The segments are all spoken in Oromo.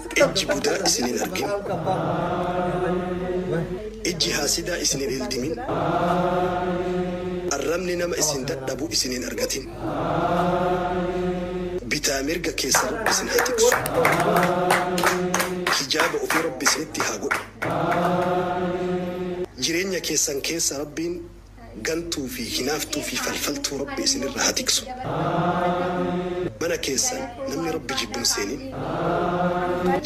Ijji budaa isin hin argin. Ijji haasidaa isin hin ildimin. Arrabni nama isin dadhabu isin hin argatin. Bitaa mirga keessan Rabbi isin haa tiksu. Hijaaba ofii Rabbi isinitti haa godhu. Jireenya keessan keessa Rabbiin Gantuu fi hinaaftuu fi falfaltuu Rabbi isin irra haa tiksu. Mana keessan namni Rabbi jibbu hin seenin.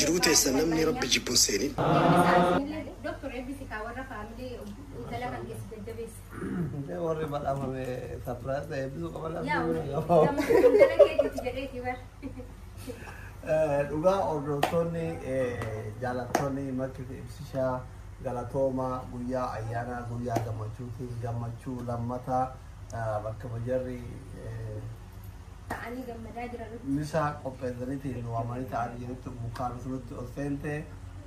Jiruu teessan namni Rabbi jibbu hin seenin. Warri badhaafame surprise ta'e eebbisuu qaba laata? Dhugaa hordoftoonni jaalattoonni makkiif ibsishaa galatooma guyyaa ayyaanaa guyyaa gammachuutiin gammachuu lammata bakka bajarri ta'anii gammadaa jiran. misaa qopheessaniitiin waamanii ta'anii jirutti mukkaanutu nutti ol seente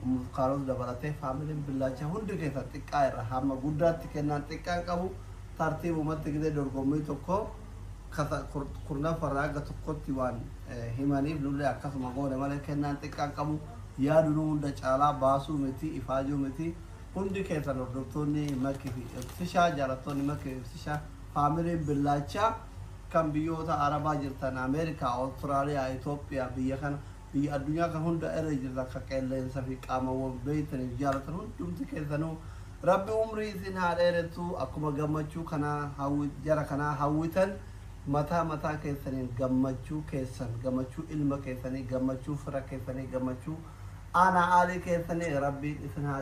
mukkaanutu dabalatee faamiliin billaacha hundi keessa xiqqaa irra hamma guddaatti kennaan xiqqaan qabu tartiibumatti gidee dorgommii tokko kata kurnaffa irraa hagga tokkotti waan himaniif nullee akkasuma goone malee kennaan xiqqaa hin qabu. Yaa duruu hunda caalaa baasuu miti ifaajuu miti hundi keessan hordoftoonni Maki fi Ibsishaa jaalattoonni Maki fi Ibsishaa faamiliin Billaachaa kan biyyoota Arabaa jirtan Ameerikaa, Australia, Ethiopia biyya kana Biyya addunyaa kan hundaa irra jirtan ka qeelleensa fi qaamawwan beeytaniif jaalatan hundumti keessanuu Rabbi umrii isin haa dheeressu akkuma gammachuu kanaa hawwit jara kanaa hawwitan mataa mataa keessaniin gammachuu keessan gammachuu ilma keessanii gammachuu fira keessanii gammachuu aanaa aalii keessanii Rabbiin isin haa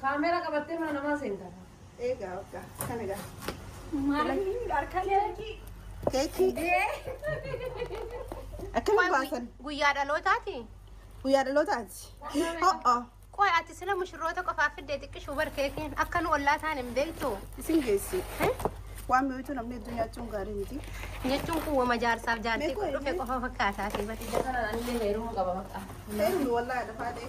Kaameera qabattee mana namaa seenta. Eegaa waggaa kan egaa. Maaliin harka keekii. Keekii akkana baasan Guyyaa dhalootaati. guyyaa dhalootaati. Ho'o Qoy ati sila mushurroota qofaaf fiddee xiqqishuu bar keekiin akka nu ollaa taan hin beektu. isin geessi. Eh? Waan mi'ooytuu namni hedduu nyaachuun gaarii miti. Jechuun kun wama jaarsaaf jaartii Meeqa dhufe qofa fakkaataa fi bati. Ija kanaan anillee heerumuu qaba bakka. Heerumi wallaahi dafaa ta'e.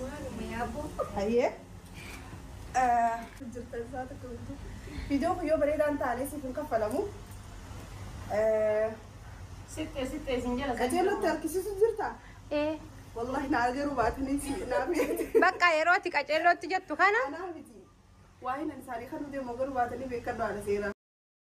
Maaluma yaaboo. Hayyee. Jirtan isaa tokko guutuu. Viidiyoon kun yoo bareedaa hin taane siif hin kaffalamu. Sixxee sixxee isin jala. Qajeelootti harkisiisu jirta. Ee, Wallaahi naa garuu baatanii si naa beekti. Bakka yeroo ati qaceellootti jettu kana Anaa miti. Waa'ee nan isaanii kan nu deemu garuu baatanii beekan baala seeraa.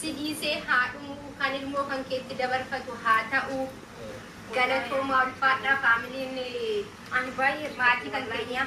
si dhiisee haa dhumu kan ilmoo kan keetti dabarfatu haa ta'u galatoomaa ulfaadhaa faamiliin Ani baay'ee maatii kan keenyaa.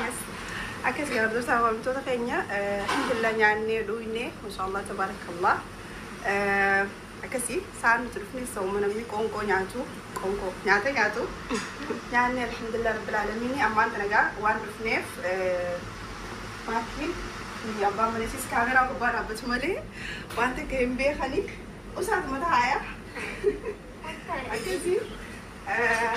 Yes. Akkas garabdoota waamtoota keenya eh, alhamdulillah nyaannee dhugne mashallah tabarakallah Eh, akkasii saan nuti dhufne sooma namni qoonqoo nyaatu qoonqoo nyaata nyaatu nyaannee alhamdulillah rabbil aalamiin ammaan tana egaa waan dhufneef eh, maatiin fi abbaan maleessis kaameraa gubbaa dhaabbatu malee waan takka hin beekanii usaatuma taa'aa akkasii eh,